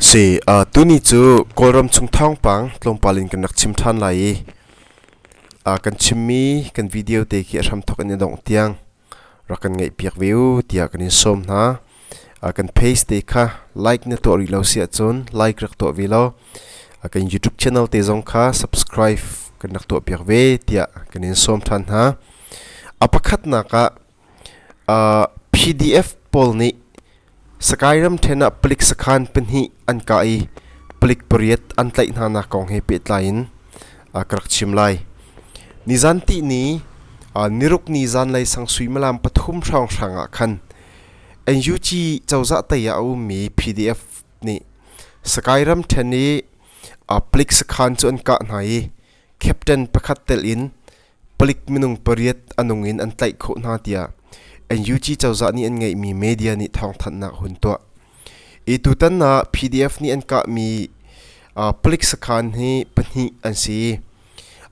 Sui, tuni cu Kawlram chung thawngpang tlawmpal in kan rak chim ṭhan lai i kan chimmi kan video te khi a hramthawk in a dongh tiang rak kan ngaihpiak ve u tiah kan in sawm hna. Kan page te kha like na tuah rih lo si ahcun like rak tuah ve law kan YouTube channel te zong kha subscribe kan rak tuahpiak ve tiah kan in sawm ṭhan hna. A pakhatnak ah PDF pawl nih Skyram ṭhen ah palik sakhan pahnih an kah i palik pariat an tlaih hnanak kong he pehtlai in ka rak chim lai. Nizanti ni nirukni zanlei sang suimilam pathum hrawnghrang ah khan NUG cozah tei ah a ummi PDF nih Skyram ṭhen i palik sakhan cu an kah hna i captain pakhat telh in Palik minung pariat a nung in an tlaih khawh hna tiah NUG cozah nih an ngeihmi media nih thawngthanhnak a hun tuah. Hi tutan ah PDF nih an kahmi uh, palik sakhan hi pahnih an si.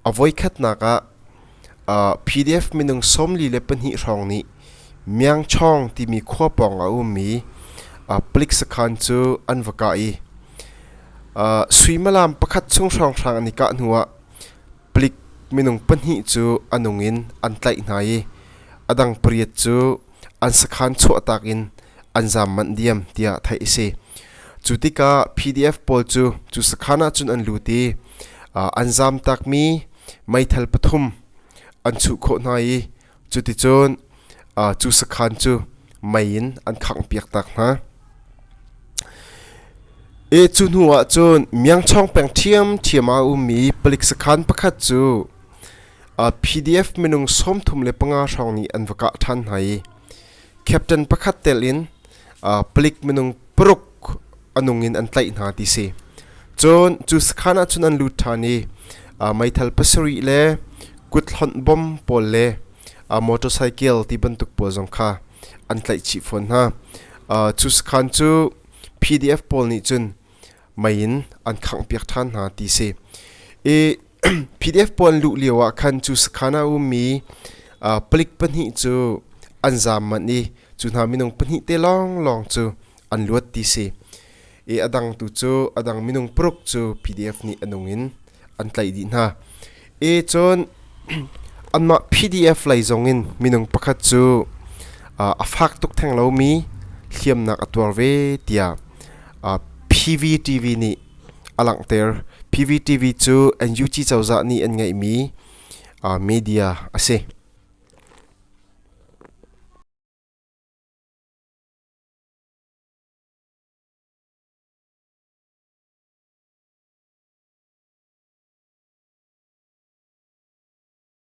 A voikhatnak ah uh, PDF minung sawmli le pahnih hrawng nih Miangchawng timi khua pawng a ummi uh, palik sakhan cu an va kah i uh, suimalam pakhat chung hrawnghrang an i kah hnu ah Palik minung pahnih cu a nung in an tlaih hna i a dang pariat cu an sakhan chuahtak in an zaam manh diam tiah theih a si. Cu tikah PDF pawl cu cu sakhan ah cun an lut i an zaam takmi meithal pathum an chuh khawh hna i Cuticun cu sakhan cu mei in an khanghpiak tak hna. E cu hnu ah cun Miangchawng peng ṭhiamṭhiam ah a ummi palik sakhan pakhat cu PDF minung sawmthum le panga hrawng nih an va kah ṭhan hna i captain pakhat telin uh, palik minung paruk anung in an tlaih hna ti si cun cu sakhan ah cun an lut ṭhan i uh, meithal pasarih le kut hlonh bom pawl le uh, motorcycle ti bantuk pawl zong kha an tlaih chih fawn hna uh, cu sakhan cu PDF pawl nih cun mei in an khangh piak ṭhan hna ti si i PDF puan luh lio ah khan cu sakhan ah a ummi palik pahnih cu an zaam manh i cu hna minung pahnih te lawnglawng cu an luat ti si i a dang tu cu a dang minung paruk cu PDF nih a nung in an tlaih dih hna e cun anmah PDF lei zong in minung pakhat cu a fak tuk theng lomi hliamnak a tuar ve tiah PVTV nih a langhter. PVTV cu NUG cozah nih an ngeihmi media a si.